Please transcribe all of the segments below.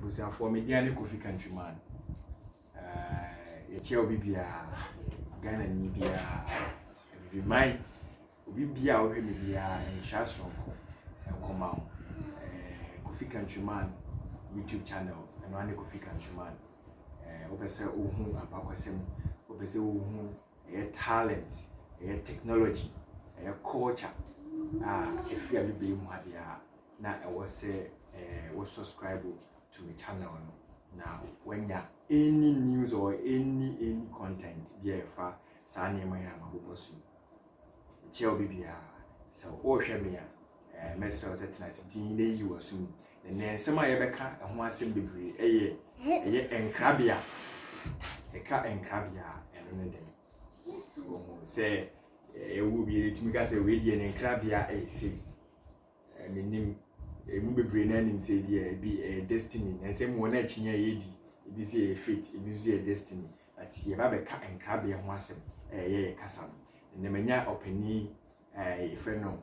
abusuafoɔ media ne kofi countryman yɛkyɛ obi biara ghana ni biara abibiman obi biara a wohwɛ me biara ntra soronko nkɔma wo kofi countryman youtube channel ɛno ane kofi countryman wopɛ sɛ wohu ampakwasɛm wopɛ sɛ wohu ɛyɛ talent ɛyɛ technology ɛyɛ culture a ɛfiri abibiman mu ha biara na ɛwɔ sɛ wo subscribe to me channel no na wanya any news or any any content bi a ɛfa saa nneɛma yi a mabobɔ so yi nkyɛ obi biara sɛ wohwɛ me a eh, mɛsrɛ wo sɛ tena ase din na yi wɔ so mu na nnɛ nsɛm a yɛbɛka ɛho asɛm bebree ɛyɛ ɛyɛ nkrabea ɛka nkrabea ɛno ne dɛn sɛ ɛwɔ eh, bi yɛtumi ka sɛ wei deɛ ne nkrabea ɛyɛ sei Eh, menim. Emu bebree no anim sɛ ebi a ebi ɛyɛ destiny. Na nsɛm wɔ no akyinya a yɛdi. Ebi sɛ ɛyɛ fate, ebi nso yɛ destiny. But yɛba bɛka nkrabea ho asɛm a ɛyɛ yɛ kasa no. Ɛnna manya ɔpanin a yɛfrɛ no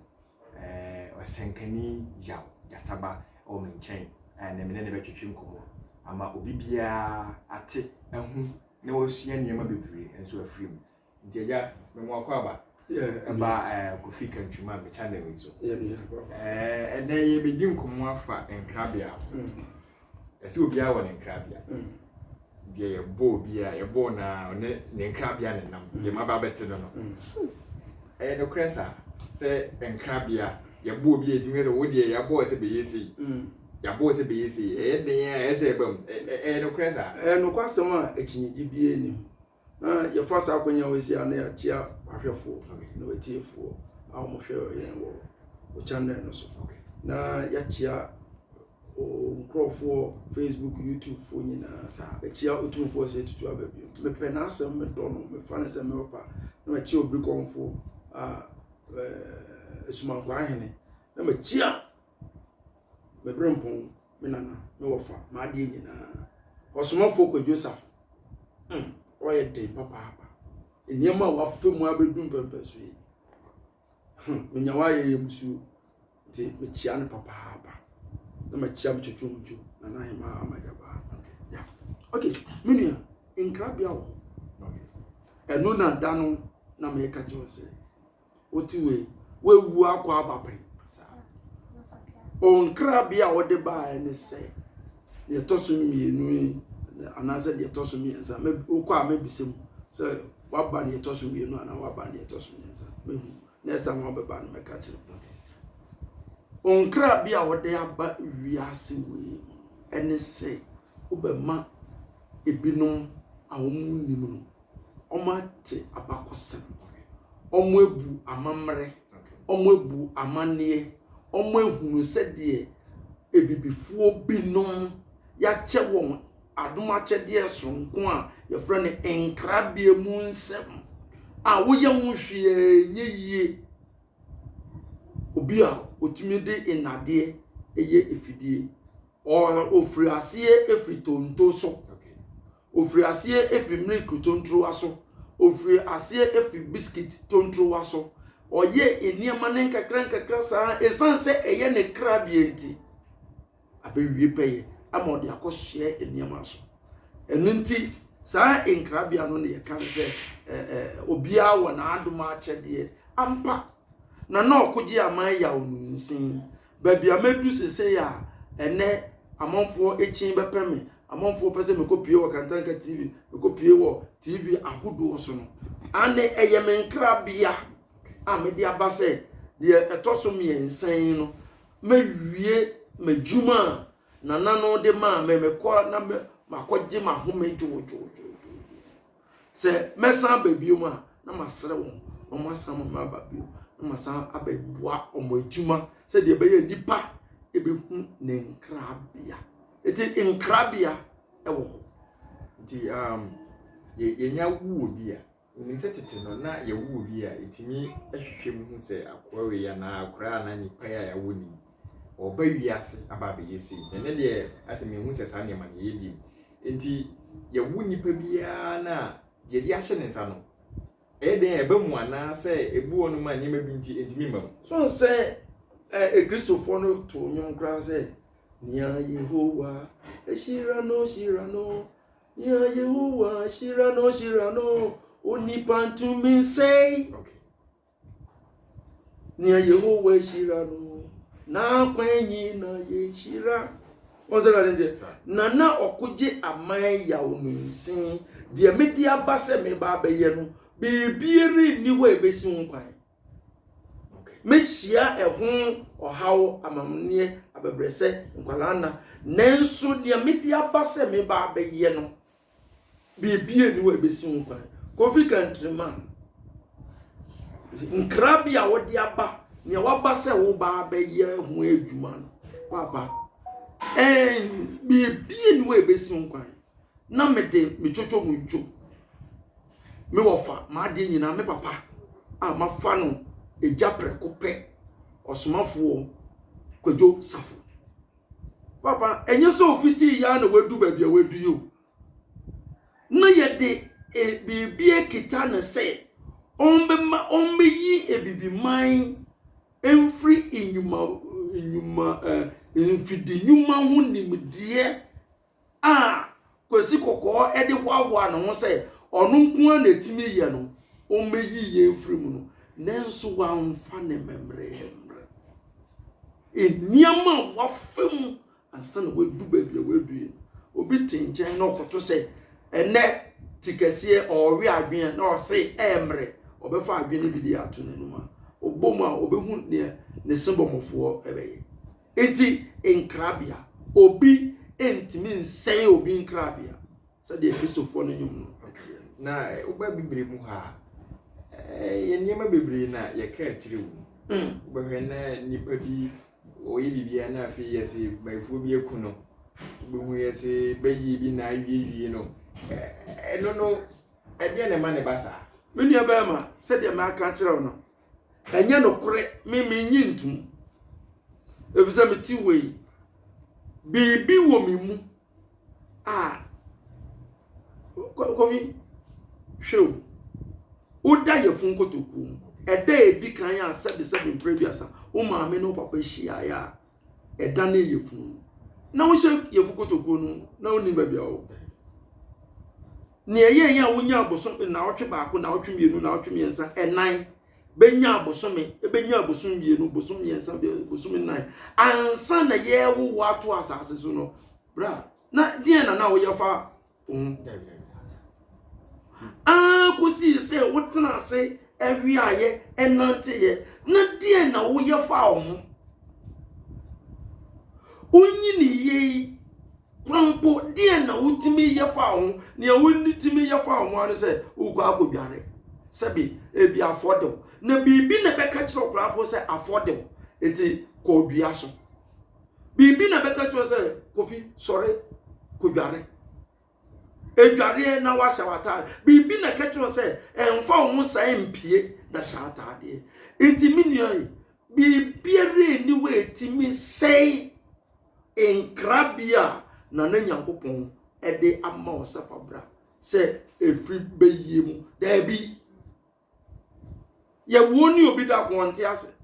eh, ɔsɛnkani Yaw Gyataba wɔ me nkyɛn a ɛnna me ne no bɛtwetwe nkɔmmɔ ama obi biara ate ahu na wasua nneɛma bebree nso afiri mu. nti agya me mo akwaaba ɛba kofi kantwuma me channel yi so ɛnɛ yɛbɛdi nkɔmmɔ afa nkrabea ho mm. ɛsɛ obiara wɔ ne nkrabea mm. deɛ yɛbɔ obiara yɛbɔ na ɔne ne nkrabea ne nam mm. deɛ ma ba bɛte no no ɛyɛ nokorɛ saa sɛ nkrabea yɛbɔ obi ɛtumi sɛ wo deɛ yɛabɔɔ sɛ bɛyɛ sei yɛabɔɔ sɛ bɛyɛ sei ɛyɛ den a ɛsɛ ɛbam ɛyɛ nokorɛ saa ɛyɛ nokwasɛm a akyinnyegye biara nim na yɛfa saa akonnwa wei si a na yɛakyia ahwɛfoɔ na wɔatiefoɔ a wɔhwɛ yɛn wɔ wo channel no so na yɛakyia nkurɔfoɔ facebook youtube foɔ nyinaa saa bɛkyia ɔtumfoɔ sɛ tutu aba bio mepɛ n'asɛm medɔ no mefa no sɛ mewɔpa na makyia obirikɔmfoɔ a asumankwaa hene na makyia me bere mpɔn me nana me wɔfa m'adeɛ nyinaa ɔsomafoɔ kwadwo safo mm ɔyɛ den papaapa nneɛma a wafa mu abɛdu mpɛmpɛn so yi hmm menya wayɛ yɛ musuo nti mekyia no papaapa na makyia me twitwi mu dwo nana ahema amagyabaa ya ok me nua nkrabea wɔ hɔ ɛno na da no na meka kyerɛ sɛ wote wei wawu akɔ aba pɛn ɔnkrabea a wɔde baeɛ ne sɛ deɛ ɛtɔ so mmienu yi anaasɛ deɛ ɛtɔ so mmiɛnsa wokɔ a mɛbisa mu sɛ waba deɛ ɛtɔ so mmienu anaa waba deɛ ɛtɔ so mmiɛnsa mɛhu next time wɔbɛba no mɛka kyerɛ mu ɔnkrabea a wɔde aba wiase wei ɛne sɛ wobɛma ebinom a wɔn nim no wɔate abakɔsɛm, wɔabu amammerɛ, wɔabu amanneɛ, wɔahunu sɛdeɛ abibifoɔ binom yɛakyɛ wɔn adom akyɛdeɛ soronko a yɛfrɛ no nkrabea mu nsɛm a woyɛ ho hwee nyɛ yie. Obi a ɔtumi de nnadeɛ yɛ afidie. ɔfiri aseɛ firi tonto so ɔfiri aseɛ firi milk tontowa so ɔfiri aseɛ firi biscuit tontowa so ɔyɛ nneɛma no nkakra nkakra saa ɛsiane sɛ ɛyɛ ne kra deɛ nti abɛwie pɛyɛ ama ɔde akɔsoɛ nneɛma so ɛno nti saa nkrabea no na yɛka no sɛ obiara wɔ n'adom akyɛdeɛ ampa na na ɔkogye aman yaw no nsin Baabi a madu seesei a ɛnnɛ amanfoɔ kyin bɛpɛ me, amanfoɔ pɛ sɛ mekɔpue wɔ Kantanka TV, mekɔpue wɔ TV ahodoɔ so no, ane ɛyɛ me nkrabea a mede aba sɛ deɛ ɛtɔ so mmiɛnsa yi no, mɛwie m'adwuma a nana no de maa me, mekɔ na makɔgye m'ahome dwoodwoodwoodwoo. Sɛ mɛsan aba biom a, na masrɛ wɔn na wɔn asan ma ma aba biom na masan abɛboa wɔn adwuma sɛdeɛ ɛbɛyɛ nipa ɛbɛhu ne nkrabea. Ɛti nkrabea ɛwɔ hɔ. Nti um, yɛnya wuo bi a, nim sɛ tete no na yɛwuo bi a ɛtumi hwehwɛ mu hu sɛ akoa wei anaa akoraa anaa nipa a yɛawo ne Ɔreba wiase aba abɛyɛ sei. Na ɛnnɛ deɛ, ayɛ sɛ menhu sɛ saa nneɛma no yɛyɛ bio. Enti yɛwo nnipa biara no a, deɛ yɛde ahyɛ ne nsa no, ɛyɛ dɛn a ɛba mu anaasɛ ebu wɔnom a nneɛma bi nti ɛntumi mma mu? So nsɛ ɛ Kristofoɔ no too nnwom koraa sɛ, Nea Yehowa ahyira no, hyira no, nea Yehowa ahyira no, hyira no, onipa ntumi nsɛe. Okay. Nea Yehowa hyira no, n'akwan nyinaa yɛ hyira. Wɔn sɛ Awurade nteɛ. Na na ɔkogye aman yaw ne nsin. Deɛ mede aba sɛ meba abɛyɛ no, biribiara nni hɔ a ebesi ho kwan. Mehyia ɛho ɔhaw, amamneɛ, abɛbrɛsɛ, nkwadaa nna. Nanso deɛ mede aba sɛ meba abɛyɛ no. Biribiara nni hɔ a ebesi ho kwan. Kofi Kantrima, nkra bi a wɔde aba, nea waba sɛ woba abɛyɛ ho adwuma no, waba. Ɛn, biribiara nni hɔ a ebesi ho kwan. Na mede me twotwo mu ntwo. Me wɔfa, m'adeɛ nyinaa, me papa a mafa no agya prɛko pɛ, ɔsomafoɔ Kwadwo Safo. papa ɛnyɛ sɛ ofitii yɛ na wadu baabi a wadu yi o na yɛde e, biribi akita no sɛ ɔmbɛma ɔmbɛyi ebibiman mfiri nnwuma nnwuma eh, mfidi nnwuma ho nimdeɛ a Kwasi Kɔkɔɔ de hoahoa ne ho sɛ ɔno nko ara na ɛtumi yɛ no, ɔmmɛyi yɛn mfiri mu no, nanso wamfa ne mmɛmmerɛɛ mmerɛ. Nneɛma a wafa mu ansa na wadu baabi a wadu yi, obi te nkyɛn na ɔkoto sɛ ɛnɛ te kɛseɛ ɔrewe adwene na ɔse ɛmmerɛ ɔbɛfa adwene bi de ato n'anim a, ɔbɔ mu a ɔbɛhu deɛ ne sebɔmɔfoɔ bɛyɛ. Enti nkrabea, obi ntumi nsɛe obi nkrabea, sɛdeɛ Kristofoɔ no nnwom no teɛ no. Na woba Bibire mu ha a, yɛ nneɛma bebree na yɛka akyire wo. Mm. Wobɛhwɛ na nipa bi ɔyɛ biribiara na afei yɛ se bayifoɔ bi aku no. Wobɛhu yɛ se bɛyie bi na awiewie no. Ɛno no, ɛdeɛ na ɛma ne ba saa? Me nua bɛrima, sɛdeɛ maka akyerɛ wo no, ɛnyɛ nokorɛ me mennye ntom ɛfiri sɛ mete hɔ yi biribi wɔ me mu a kɔfi hwɛ o woda yɛfo nkotokuo mu ɛda ɛdi kan a sɛbesɛbe mprɛ aduasa wo maame ne wo papa hyiaeɛ a ɛda no yɛ funu na wohyɛ yɛfo kotokuo no na wonim baabi a wɔwɔ nea ɛyɛ yɛn a wonya abosom naawɔtwe baako naawɔtwe mmienu naawɔtwe mmiɛnsa ɛnan bɛnya abosome ɛbɛnya abosom mmienu bosom mmiɛnsa bosom nnan ansa na yɛrewowo ato asase so no bra na deɛ na na woyɛ fa Wo ho tɛw yɛn ara kosii sɛ wotena ase wiaeɛ ɛnanteeɛ na deɛn na woyɛ faa wo ho wonyiniyɛ yi kora mpo deɛn na wotumi yɛ faa wo ho nea wotumi yɛ faa wo ho ano sɛ wokɔ akɔdware sɛbi ebi afɔ de wo na biribi na ɛbɛka kyerɛ wo koraa mpo sɛ afɔ de wo nti kɔdua so Biribi na bɛka kyerɛ sɛ Kofi sɔre kodware. Edwareɛ na wahyɛ w'ataade. Biribi na ɛka kyerɛ sɛ ɛmfa wo ho saa mpie na hyɛ ataadeɛ. Nti me nua yi, biribiara nni hɔ a ɛtumi sɛe nkrabea a Nana Nyankopɔn de ama wo sɛ fa bra sɛ ɛfiri bɛyie mu. Daabi. Yɛwoo ne obi da ko ɔnte ase.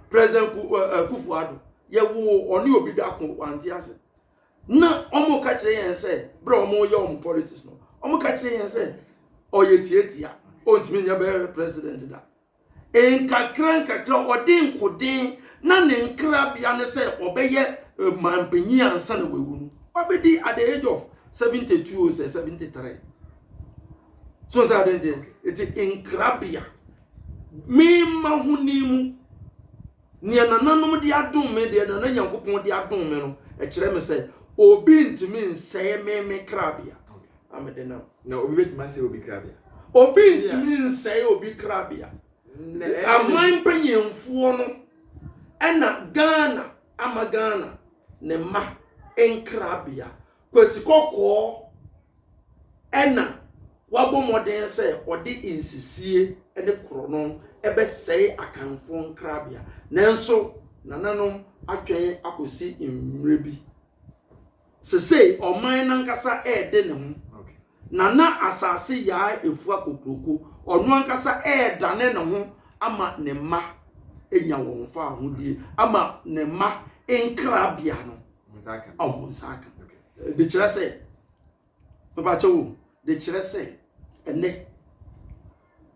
President eh, Kufu Ado, yɛwoo ɔne obi da ko wante ase. Na wɔn ka kyerɛ yɛn sɛ, berɛ a wɔyɛ wɔn politics no, wɔn ka kyerɛ yɛn sɛ, ɔyɛ tiatia, ɔntumi nyɛ bɛyɛ president da. Nkakra nkakra, ɔde nkoden na ne nkrabea ne sɛ ɔbɛyɛ eh, mampanyin ansa na wawu no. Ɔbɛdi at the age of 72 or 73. so sɛ adeɛ nteɛ ɛti nkrabea mema ho ni mu nea nananom de adom me deɛ nana nyankopɔn de adom me no ɛkyerɛ me sɛ obi ntumi nsɛe me me krabea amede nam na obi bɛtumi asɛe obi krabea obi ntumi nsɛe obi krabea aman mpanyinfoɔ no ɛna ghana ama ghana ne ma nkrabea Kwasi Kɔkɔɔ na wabɔ mmɔden sɛ ɔde nsisie ne korɔno bɛsɛe Akanfoɔ nkrabea, nanso nananom atwɛn akɔsi mmerɛ bi. Sesei ɔman no ankasa rede ne ho Na na asase Yaa afua kokuroko, ɔno ankasa redane ne ho ama ne mma anya wɔn fawohodie, ama ne mma nkrabea no ɔmo nsa aka. De kyerɛ sɛ, mebakyɛ wo, de kyerɛ sɛ, ɛnɛ,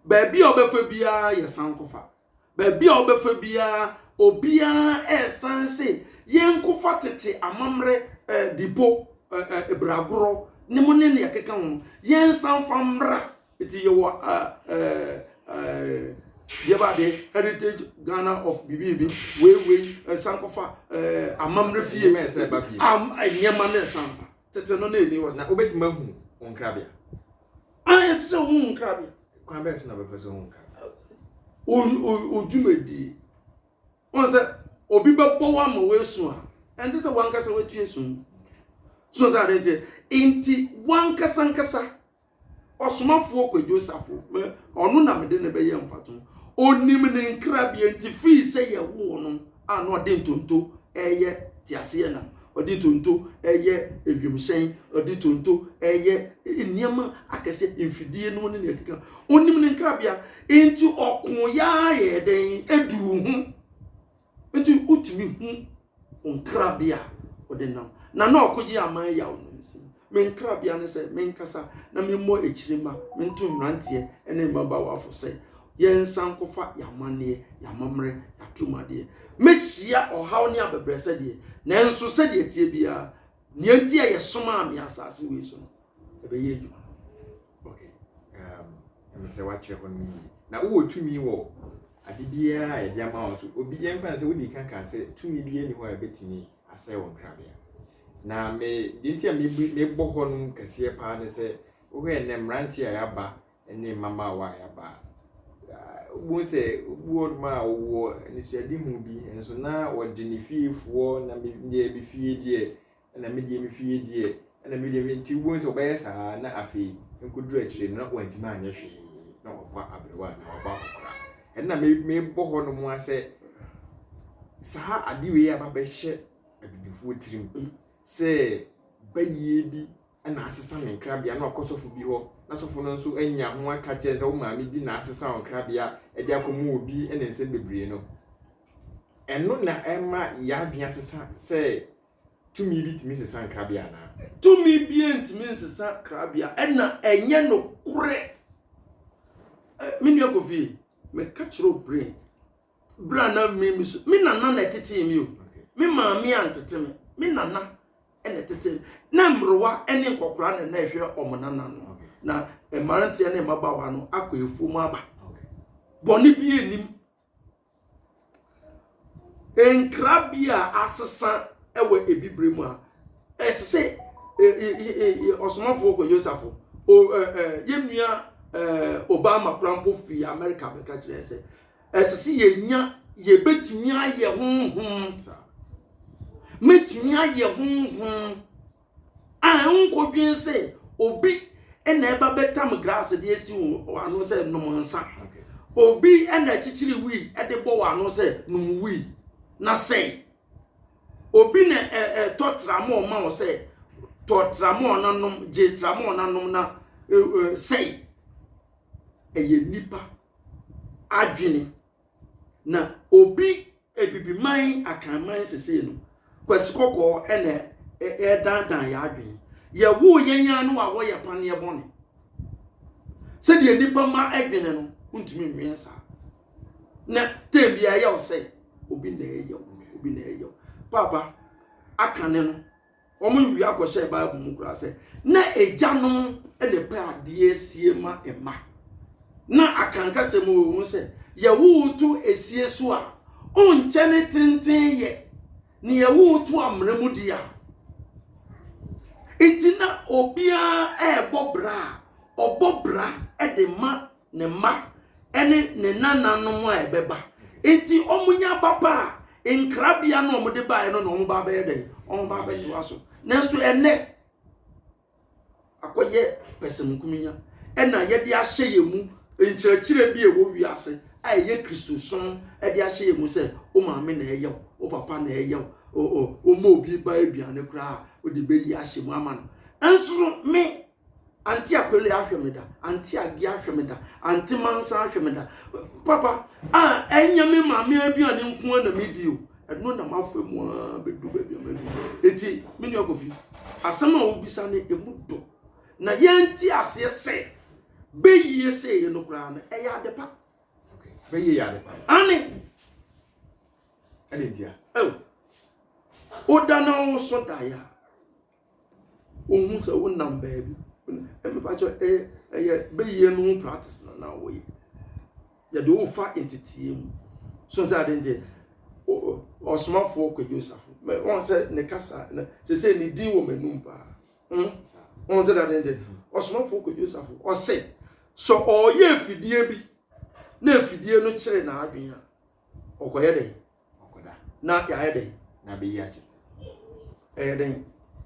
baabi a ɔbɛfa biara yɛ sankɔfa. Baabi a wobɛfa biara, obiara resan se yɛnkɔfa tete amammerɛ, dipo, bragorɔ nom ne nea ɛkeka ho no, yɛnsan mfa mmra. Nti yɛwɔ deɛ ba adeɛ heritage Ghana of biribi wei wei ɛsan kɔfa amammerɛ fie nneɛma no ɛsan ba. Tete no na ɛnni hɔ saa. Na wobɛtumi ahu wo nkrabea. A ɛsɛ sɛ wohu nkrabea. Kwan bɛn so na bɛfa so hu nkrabea? Odwumadie. Wɔn sɛ obi bɛbɔ wo ama woasu a, ɛnte sɛ wankasa watu asu. So sɛ adeɛ nti, nti wankasankasa. Ɔsomafoɔ Kwadwo Safo, me, ɔno na mede no bɛyɛ mfato. Ɔnim ne nkrabea nti firi sɛ yɛwoo no a na ɔde ntonto reyɛ teaseɛnam, ɔde ntonto reyɛ ewiemhyɛn, ɔde ntonto reyɛ nneɛma akɛseɛ, mfidie no ne nea ɛkeka. Ɔnim ne nkrabea nti ɔko yɛa yɛɛ dɛn aduu ho. Enti wotumi hu wo nkrabea a wode nam. Na na ɔkogye aman yaw no nsi. Me nkrabea ne sɛ menkasa na memmɔ akyiri mma mento mmeranteɛ ne mmabawafo sɛ yɛnsan nkɔfa yɛn amanneɛ, yɛn amammerɛ, yɛn atumadeɛ. Mɛhyia ɔhaw ne abɛbrɛsɛ deɛ, nanso sɛdeɛ ɛteɛ biara, nea enti a yɛsomaa me asase wei so no, ɛbɛyɛ adwuma no okay um, ɛmɛ sɛ woakyerɛ hɔ no yie na wowɔ tumi wɔ ade biara a yɛde ama wo so obi yɛmfa sɛ wode ka ka sɛ tumi bi ani hɔ a ɛbɛtumi asɛe wo nkrabea na me deɛ nti a mebɔ hɔ no kɛseɛ paa ne sɛ wohwɛ nnɛ mmerante a yɛaba ne mmabaawa a yɛaba wohu sɛ obi wɔ nom a wɔwɔ anisoadehu bi nso na wɔde ne fiefoɔ na deɛ me fie deɛ ɛna me deɛ me fie deɛ ɛna me deɛ nti wobɛhu sɛ wɔbɛyɛ saa na afei nkɔduru akyire no na wantumi anyɛ hwee na wabɔ aberewa anaa wabɔ akɔkora ɛna mebɔ hɔ nom a sɛ saa ade wei aba bɛhyɛ abibifoɔ tirim sɛ bayie bi na asesa ne nkrabea na ɔkɔ sɔfo bi hɔ na sɔfo no nso anya ho aka kyɛn sɛ wo maame bi na asesa wo nkrabea de akɔma obi ne nsɛm bebree no ɛno na ɛma yɛadwene asesa sɛ Tumi bi tumi sesa nkrabea anaa? Tumi biara ntumi nsesa krabea, ɛna ɛnyɛ nokorɛ. Me nua Kofi, meka kyerɛ wo brain, berɛ a na me me su, me nana na ɛtetee me o, me maame antete me, me nana na ɛtetee me. Na mmerewa ne nkɔkora na na ɛhwɛ wɔn nana no, na mmeranteɛ ne mmabaawa no akɔ afuo mu aba. Bɔne bi anim, Nkrabea a asesa wɔ Ebibire mu a, ɛsɛ sɛ ɔsomafo Yosafo, yɛn nua Obama koraa mpo fi Amerika bɛka kyerɛ sɛ, ɛsɛ sɛ yɛnya yɛbɛtumi ayɛ honhom. Mɛtumi ayɛ honhom. A Wonkodwen sɛ obi na ɛba bɛtam grass de asi wo ano sɛ nom nsa. Obi na akyikyiri wii de bɔ wo ano sɛ nom wii na sɛe. Obi na ɛtɔ tramɔɔ ma wo sɛ tɔ tramɔɔ na nom, gye tramɔɔ na nom na sɛe. Ɛyɛ nipa adwene. Na obi abibiman akanman sesei no, kwasi kɔkɔɔ na ɛredaadaa yɛ adwene. Yɛwoo yɛn ara no a wɔyɛ paneɛ bɔne. Sɛdeɛ nnipa ma adwene no, wontumi nwene saa. Na tɛn bi ɛyɛ wo sɛ obi na ɛyɛ wo, obi na ɛyɛ wo. Paapa, aka ne no. Wɔawia kɔhyɛɛ Bible mu koraa sɛ, na agyanom na ɛpɛ adeɛ sie ma mma. Na akankasɛm wɔ wɔn mu sɛ, yɛwowoto esie so a, ɔnkyɛ ne tenten yɛ, na yɛwowoto amena mu deɛ a. Nti na obiara ɛrebɔ bra a, ɔbɔ bra de ma ne mma ne ne nananom a ɛbɛba nti wɔnya aba pa a nkrabea no wɔde baeɛ no na wɔn ba bɛyɛ dɛn wɔn ba bɛtoa so nanso ɛnɛ akɔyɛ pɛsɛmukuminya ɛna yɛde ahyɛ yɛn mu nkyerɛkyerɛ bi a ɛwɔ wiase a ɛyɛ kristosom ɛde ahyɛ yɛn mu sɛ wo maame na ɛyɛ wo wo papa na ɛyɛ wo wɔma obi ba aduane koraa wode bɛyi ahyɛ mu ama no nso me Ante Akpele ahwɛ me da, Ante Aggie ahwɛ me da, Ante Mansa ahwɛ me da. Papa, a ɛnyɛ me maame aduane nko ara na medi o. Ɛno na mafa mu a bɛdu baabi a madu. Eti, me nua Kofi, asɛm a wobisa no emu dɔ. Na yɛnte aseɛ sɛ bɛyie sɛeɛ no koraa no, ɛyɛ ade pa. Bɛyie yɛ ade pa. Ane. Ɛde ntia. Oh. Woda na wo so daeɛ a, Wohu sɛ wonam baabi. Mepa kyɛw, ɛyɛ ɛyɛ bɛyie no ho practice na na wɔyɛ. Yɛde wo fa nteteɛ mu. So sɛ ade nti, ɔsomafoɔ Kwagye Osafo, wɔn sɛ ne kasa, sɛ sɛ ne din wɔ m'anum paa. Hmm? Wɔn sɛ ade nti, ɔsomafoɔ Kwagye Osafo, ɔse, sɛ ɔreyɛ afidie bi, na afidie no kyerɛ n'adwene a, ɔkɔyɛ dɛn ɔkɔda na yɛayɛ dɛn na bɛyi akyɛ ɛyɛ dɛn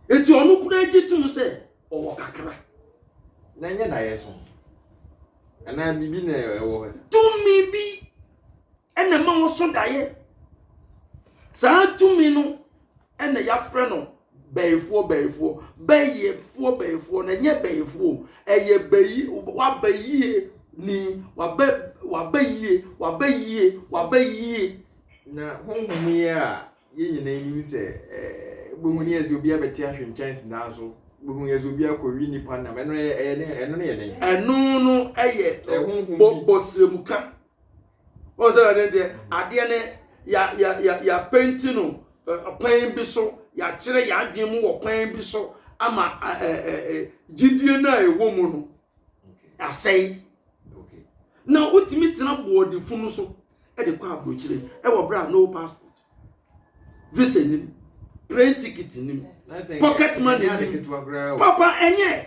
eti ɔno kura gye tom sɛ ɔwɔ kakra na nyɛ na yɛ so anaa biribi na ɛwɔ hɔ tumi bi ɛna ma wɔso daeɛ saa tumi no ɛna yɛafrɛ no bɛyifoɔ bɛyifoɔ bɛyifoɔ bɛyifoɔ na ɛnyɛ bɛyifoɔ ɛyɛ bɛyi waba yie ni waba waba yie waba yie waba yie. na honhom yi a yɛn nyinaa nim sɛ ɛɛ bohu ne yɛ sɛ obi abɛte ahwe nkyɛn sidan so bohu yɛ sɛ obi akɔwi nipa nam ɛno yɛ ɛyɛ ne ɛno ne yɛ den. ɛno no yɛ bɔ bɔsirɛmuka. wɔn sɛ ɛde deɛ adeɛ no ya ya ya ya penti no kwan bi so yɛakyerɛ yɛadwene mu wɔ kwan bi so ama gyidie no a ɛwɔ mu no asɛe na wotumi tena boɔdefo no so de kɔ aburokyire ɛwɔ berɛ a no passport visa nim plane ticket nim pocket money nim papa ɛnyɛ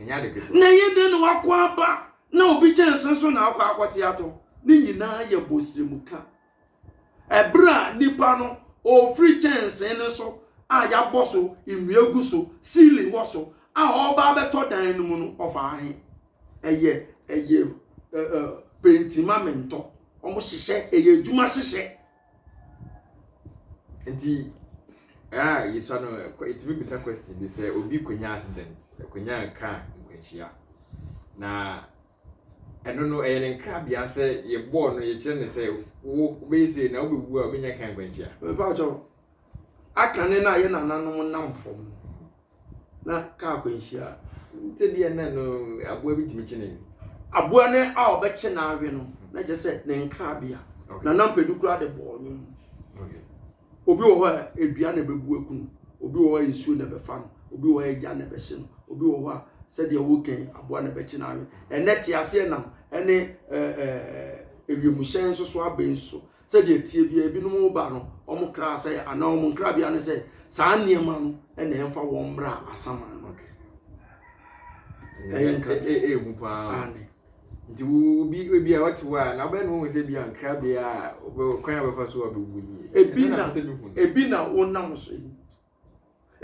na ɛyɛ dɛn na wakɔ aba na obi gyɛ nsen so na akɔ akɔte atɔ ne nyinaa yɛ bɔsiremka ɛberɛ a nipa no ɔfiri kyɛnsen no so a yɛabɔ so nnua gu so ceiling wɔ so a ɔreba abɛtɔ dan no mu no ɔfa ahe ɛyɛ ɛyɛ penti ma mentɔ wɔn hyehyɛ ɛyɛ adwuma hyehyɛ Nti a yɛsua no yɛtumi bisa question bi sɛ obi kɔnya accident kɔnya car nkwanhyia na ɛno no ɛyɛ ne nkrabea sɛ yɛbɔɔ no yɛkyerɛ ne sɛ wobɛyɛ sɛ na wobɛwu a wobɛnya car nkwanhyia mfa ɔkyɛw aka ne na yɛ nananom nam fam na kaa akwanhyia nti deɛ nɛ no aboa bi tumi kye ne aboa ne a ɔbɛkye n'awe no na kyerɛ sɛ ne nkrabea na nampɛdu koraa de bɔɔ ne mu obi wɔ hɔ a edua na ɛbɛbu aku no obi wɔ hɔ a nsuo na ɛbɛfa no obi wɔ hɔ a egya na ɛbɛhye no obi wɔ hɔ a sɛdeɛ wokan aboa na ɛbɛkye n'awe ɛnɛ te aseɛ nam ɛne ɛɛ ewiemuhyɛn nso so abɛn so Sɛdeɛ ɛteɛ biara, ebinom reba no, wɔn kra asɛe a, anaa wɔn nkrabea ne sɛ, saa nneɛma no na ɛmfa wɔn mmra asaman no. Ɛyɛ nkrabea. Ɛ- ɛ- ɛyɛ hu paa Aane. nti wo- obi ebi a ɔte hɔ a na wobɛyɛ ne wahu sɛ bi a nkrabea a ɔbɛ- kwan a ɔbɛfa so a ɔbɛwu nie Ebi Ɛno na na- ɛsɛ sɛ mehu no. Ebi na wonam so yi.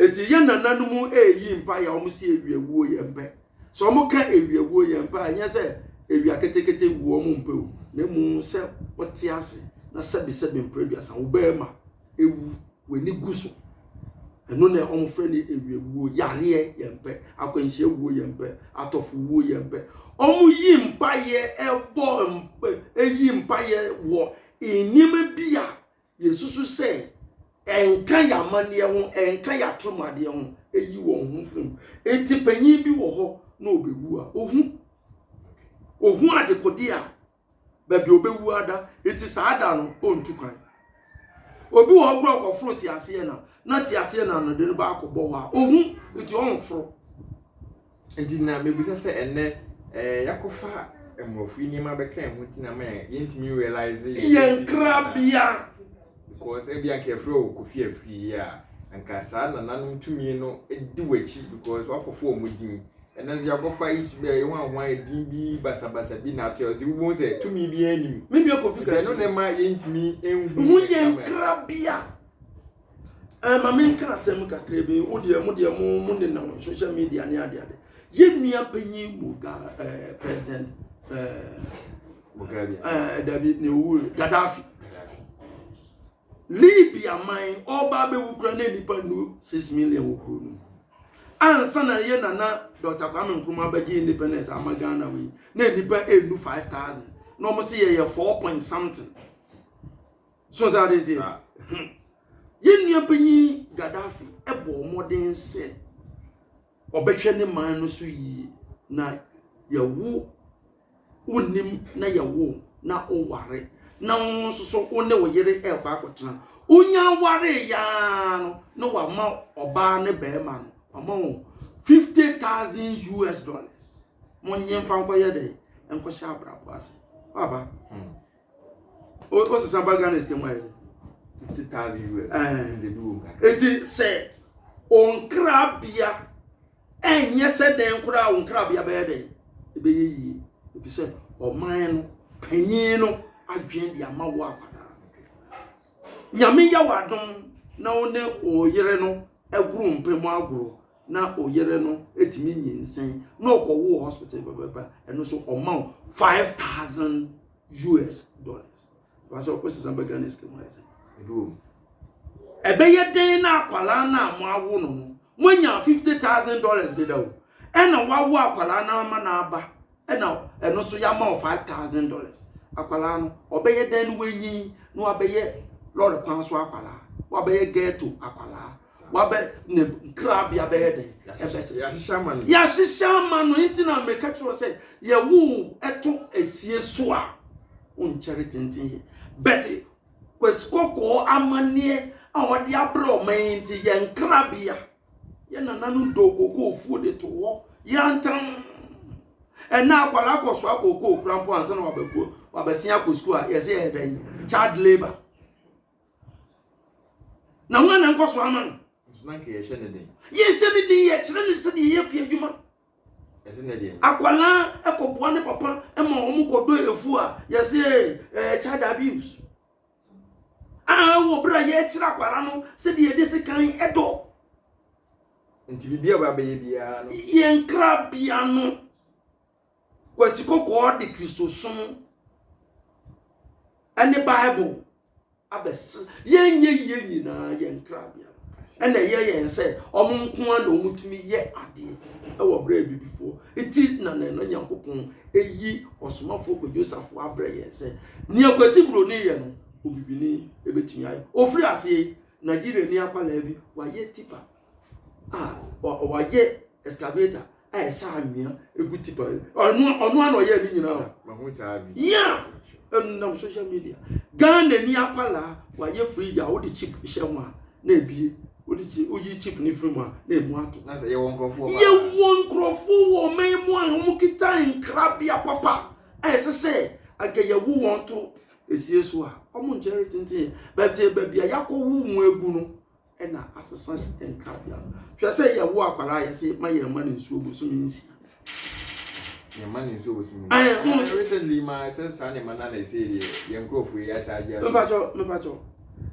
Eti yɛn nananom eyi mpae a wɔn si ewia wuo yɛn mpɛ. Sɛ wɔn ka ewia wuo yɛn mpɛ a, nyɛ sɛ ewia ketekete wuo wɔn mpɛ o, na emu sɛ wɔte ase na sɛbesɛbe mpere aduasa wo bɛrima ewu w'ani gu so. Ɛno na wɔn frɛ no ewia wuo, yareɛ yɛn mpɛ, akwanhyia wuo yɛn mpɛ, atɔfo wuo yɛn mpɛ. Wɔn yi mpaeɛ ɛbɔ mpɛ, eyi mpaeɛ wɔ nneɛma bi a yɛsusu sɛ ɛnka yɛn amanneɛ ho, ɛnka yɛn atoromadeɛ ho, ɛyi wɔn ho firi mu. Enti panyin bi wɔ hɔ na ɔbɛwu a, ɔhu. Ɔhu adekodeɛ a baabi ɔbɛwu ada, enti saa da no ɔntu kwan. Obi wɔ hɔ kora ɔkɔforo teaseɛ nam, na teaseɛ nam no de no baakɔ bɔ hɔ a, ɔhu, enti ɔnforo. Nti na mebisa sɛ ɛnnɛ eh, yɛakɔfa mmorɔfo yi nneɛma bɛka yɛn ho nti na ama yɛn yɛntumi realize yɛn yɛn identity nkrabea because ebi anka yɛfrɛ wo kofi afiri yi a anka saa nananom tumi no di w'akyi because wakɔfa wɔn din ɛnɛ nso yɛakɔfa isu bɛ yɛn ho ahoa yɛ din bi basabasa bi na ato yɛ ɔde wobɛhu sɛ tumi biara nim me nua kofi nti ɛno na kati ɛma yɛntumi nhu ho yɛ yɛn nkrabea. Ɛɛ ma menka asɛm kakra bi wo deɛ mo deɛ mo mo nenam social media ne ade ade yɛ nua panyin boga ɛɛ president ɛɛ bogani ɛɛ dabi ne owu gaddafi libya man ɔba abɛwu kura ne nipa nu six million wɔ kuro no ansa na yɛ nana dr kwame nkrumah abɛgye independence ama ghana wei na nipa enu five thousand na wɔn si yɛ yɛ four point something. So ɔsɛ ade nti. Yɛn nua panyin Gaddafi bɔɔ mmɔden sɛ ɔbɛhwɛ ne man no so yie na yɛwo wonim na yɛwo na oware na wo nso so wo ne wo yere ɛrekɔ akɔtena wonya ware yaa no na wama ɔbaa ne bɛrima no wama wo fifty thousand us dollars mo nye nfa nkɔyɛ dɛ nkɔhyɛ abrabɔ ase waba hmm. o ɔsesa ba ghana sika mu ayɛ fifty thousand us ɛnze bi wɔ mu kakra eti sɛ ɔnkrabea ɛnyɛ sɛ dɛn koraa ɔnkrabea bɛyɛ dɛn ɛbɛyɛ yie efi sɛ ɔman no panyin no adwene de ama wɔ akwadaa nyame yɛ wɔ adom na wo ne ɔyere no agoro mpɛ mu agoro na oyere no etumi nyinsɛn na ɔkɔwo wɔ hospital pɛpɛpɛ ɛno so ɔma wo five thousand us dollars basɛ ɔkɔ sisan bɛ ghana sika mu ayɛ sɛ ɛbɛyɛ dɛn na akwadaa no a mo awo no no moanya fifty thousand dollars deda o ɛna wawo akwadaa no ama no aba ɛna ɛno so yɛama wo five thousand dollars akwadaa no ɔbɛyɛ dɛn no wanyin na wabɛyɛ lɔre kwan so akwadaa wabɛyɛ ghetto akwadaa Wabɛ ne nkrabea bɛyɛ dɛn? Ɛbɛsesa. Yɛahyehyɛ ama no. Yɛahyehyɛ ama no nti na meka kyerɛ sɛ yɛwo ɛto asie so a wonkyɛre tenten yɛ. Bɛte Kwasi Kɔkɔɔ amanneɛ a ɔde abrɛ ɔman yi nti yɛn nkrabea yɛ nananom dɔɔ kookoo fuo de to hɔ yantam. Ɛnna akwadaa akɔsoa kookoo kora mpo ansa na wabɛko wabɛsen akɔ sukuu a yɛsɛ yɛyɛ dɛn? Child labour. Na hwan na nkɔ so ama no? Nso na nka yɛhyɛ ne den. Yɛhyɛ ne den, yɛkyerɛ ne sɛdeɛ yɛyɛ kua adwuma. Ɛsɛ na deɛ. Akwadaa kɔboa ne papa ma wɔn kɔdɔ efu a yɛsɛ ɛɛ child abuse. A wɔ berɛ a yɛkyerɛ akwadaa no sɛdeɛ yɛde sekan dɔ. Nti biribi a wɔabɛyɛ biara no. Yɛn krabea no. Kwasi Kɔkɔɔ de Kristosom ne Bible abɛsra yɛn yɛyɛ nyinaa yɛn nkrabea. ɛna ɛyɛ yɛn sɛ wɔn nko ara na wɔtumi yɛ adeɛ wɔ berɛ a bibifoɔ ti na na na nyankopɔn eyi ɔsomafoɔ kɔ yosafo abrɛ yɛn sɛ nea kwasi buroni yɛ no obibini ebetumi ayɛ ofiri aseɛ nigeria ni akwadaa bi wayɛ tipa a ɔyɛ excavator a ɛsɛ anwea egu tipa ɔno ɔno ano ɔyɛ ne nyinaa o. mahu saa bi. yia ɛnam social media ghana ni akwalaa wayɛ fridge a wode chip hyɛ mu a na ebie wode chip woyi chip ne firi mu a na emu ato. na sɛ yɛwɔ nkurɔfoɔ paa. yɛwɔ nkurɔfoɔ wɔ ɔman mu a wɔn kita nkrabea papa a ɛsɛ sɛ anka yɛwo wɔn to esie so a wɔn nkyɛn retenten yɛ baabi a yɛakɔwo wɔn agu no. na asesa nkrabea no. Hwɛ sɛ yɛwo akwadaa yɛ se ma yɛn ma ne nsuo bosome nsia. Yɛn ma ne nsuo bosome nsia. Ɛɛ mo. Ɛɛ recently ma sɛ saa ne ma na na ɛsɛ yɛ yɛn nkurɔfoɔ yi asa agye aso. Mpatsɔ mpatsɔ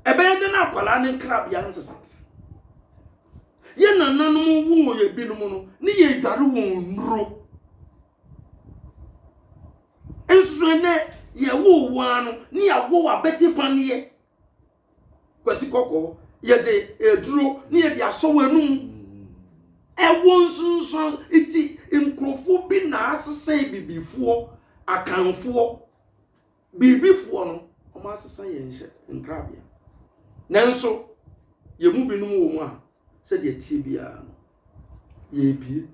ɛbɛyɛ dɛ na akwadaa ne nkrabea nsesa. Yɛn nananom wo yɛ binom no ne yɛ adware wɔn nnuro. Nso ɛnɛ yɛwo wɔn ano ne yɛawo abɛte paneɛ. Kwasi Kɔkɔɔ, yɛde aduro ne yɛde asɔ w'anum. Ɛwɔ nsunsuan nti nkurɔfoɔ bi na asesa bibifoɔ, akanfoɔ, biribifoɔ no, wɔn asesa yɛn hyɛ nkrabea. Nanso, yɛn mu binom wɔ mu a, sɛdeɛ tie biara no, yɛrebie.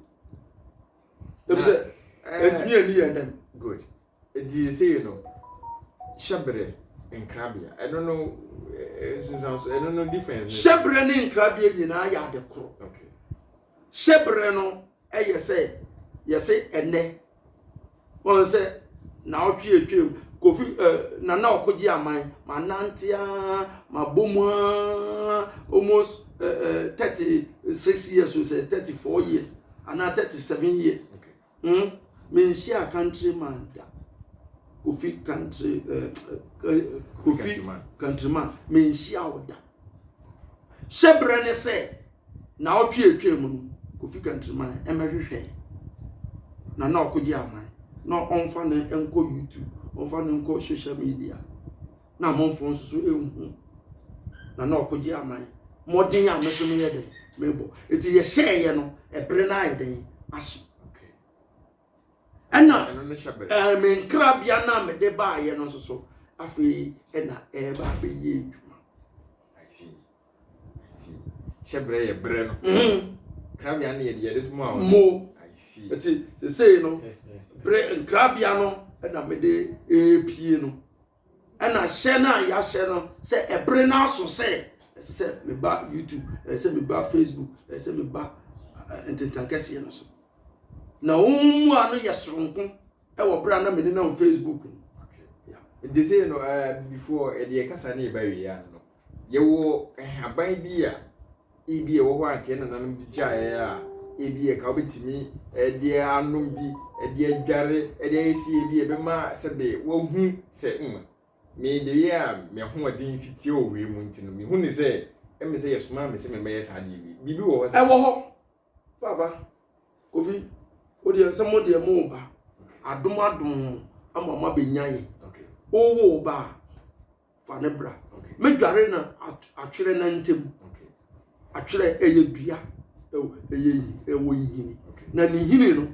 Ebi sɛ, ɛntumi ani yɛn dɛm. Good. Ɛdeɛ sei no hyɛberɛ nkrabea ɛno no nsunsuanso ɛno no difference ne. Hyɛberɛ ne nkrabea nyinaa yɛ ade koro. Okay. Hyɛberɛ no ɛyɛ sɛ yɛse ɛnɛ wɔn sɛ na ɔtwe atwam kofi eh, nana ɔkogye aman ma nante aa ma bom aa almost eh, eh, 36 years o sɛ 34 years anaa 37 years. Okay. Hum menhyiaa country man da kofi country eh, kofi country man menhyiaa wo da hyɛbrɛ ne sɛ na ɔtwe atwa mu no kofi country man ɛmɛhwehwɛ na na ɔkogye aman na ɔmfa no nkɔ youtube ɔmfa no nkɔ social media na amanfoɔ nso so nhu na na ɔkɔgye aman mmɔden a me so meyɛ den mebɔ nti yɛhyɛeɛ no ɛbere no ayɛ den aso ɛna me nkrabea no a mede baeɛ no nso so afei ɛna ɛreba abɛyɛ adwuma hyɛ berɛ yɛ berɛ no mhm. krabea no yɛde yɛde ma wo mo ɛti sesei no berɛ nkrabea no ɛna mede ɛrepie no ɛna hyɛ no a yɛahyɛ no sɛ ɛbere no aso sɛ ɛsɛ sɛ meba youtube ɛsɛ sɛ meba facebook ɛsɛ sɛ meba ntentan kɛseɛ no so na wɔn mmoa no yɛ soronko ɛwɔ bere a na mene nam facebook no. nti sɛ no before ɛdeɛ kasa ne ɛba wie ano no Yɛwɔ nhaban bi a ebi ɛwɔ hɔ a anka yɛn nananom de gyaeɛ a ebi ɛka wobɛtumi ɛde anom bi ɛde adware ɛde ayɛ si ebi ɛbɛma sɛbe wahu sɛ mm me de yɛ a me ahoɔden si tie wɔ wei mu nti no mehu ne sɛ ɛmɛ sɛ yɛsomaa me sɛ mɛmɛyɛ saa deɛ bi biribi wɔ hɔ sɛ ɛwɔ hɔ papa kofi wodeɛ sɛ mo deɛ mo ba adom adom ama mo abɛnya yɛ wowɔ ba a fa ne bra medware na atwerɛ na ntam atwerɛ ɛyɛ dua ɛyɛ ɛwɔ nhini na ne nhini no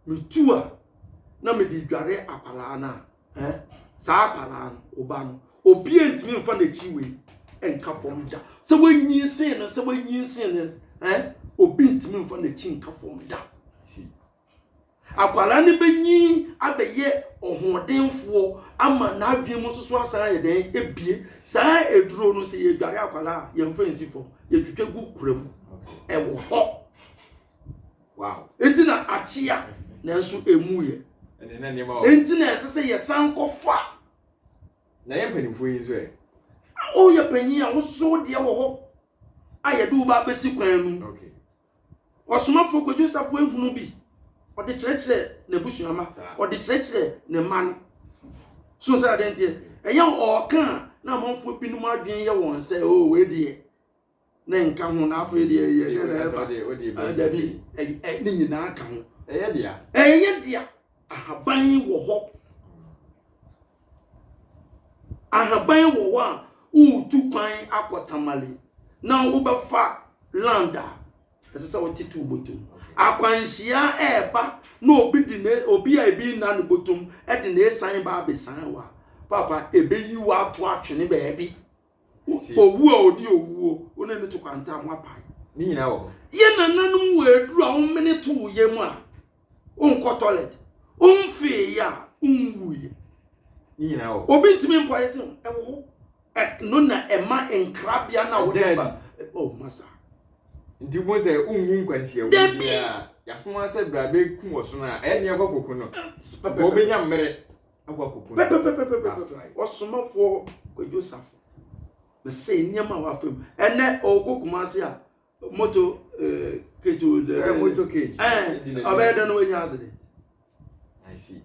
metu a na mede dware akwaraa no a eh, saa akwaraa no ɔba no obia ntumi mfa n'akyi wei nka fam da sɛ wanyin sen no sɛ wanyin sen no eh, obi ntumi mfa n'akyi nka fam da Akwadaa no bɛnyin abɛyɛ ɔhoɔdenfoɔ ama n'adwene mu nso so asan ayɛ dɛn abie. Saa aduro no sɛ yɛdware akwadaa a yɛmfa nsi fam, yɛtwitwa gu kura mu. Ɛwɔ hɔ. Wow. Enti na akyea nanso emu yɛ. Enti na ɛsɛ sɛ yɛsan kɔfa. Na yɛn mpanimfoɔ yi nso ɛ. Woyɛ panyin a wososo deɛ wɔ hɔ a yɛde wo ba abɛsi kwan mu. Okay. Ɔsomafo Kwadwo Sapue hunu bi, ɔde kyerɛkyerɛɛ n'abusua mma, ɔde kyerɛkyerɛɛ ne mma no. So sɛ adeɛ nteɛ, ɛnyɛ ɔɔka a na amanfoɔ binom adwene yɛ wɔn sɛ, o wei deɛ, ne nka ho na afei deɛ ɛyɛ dɛ na ɛba. Dabi, ne nyinaa ka ho. Ɛyɛ dea. Ɛyɛ dea. Ahaban wɔ hɔ. Ahaban wɔ hɔ a woretu kwan akɔ Tamale na wobɛfa land a, ɛsɛ sɛ wote to botom. Akwanhyia ɛreba na obi de ne obi a ebi nna ne botom de ne san ba abesan wa. Papa ebeyi wo ato atwene baabi. Owu a odi owuo, wo ne no to kwantam, wapae. Ne nyinaa wɔ hɔ. Yɛ nananom wɔ aduru a womene to wo yam a, wonkɔ toilet. Womfee yɛ a, wonwuiɛ. Ne nyinaa wɔ hɔ. Obi ntumi mpɔ ayɛ sɛ ɛwɔ hɔ. Ɛno na ɛma nkrabea no a wode ba. Oh, masa. Nti wobɛhu sɛ wonhu nkwanhyia wu biara. Yɛasomo ara sɛ berɛ a bɛkum ɔsono a, ɛyɛ ne yɛkɔ koko no, nka wobɛnya mmere. pɛpɛpɛpɛpɛpɛ ɔsomafoɔ kwadwo safo mese nneɛma a wafa mu ɛnɛ ɔkɔ kumase a moto eh, keto eh, moto cage ɔbɛyɛ dɛ no wanya accident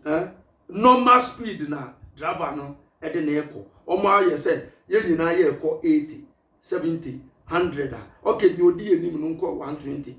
eh, normal speed na driver no ɛde na ɛkɔ ɔmo ayɛ sɛ yɛn nyinaa yɛ ɛkɔ eighty seventy hundred a ɔkɛ nea odi anim no nkɔ one twenty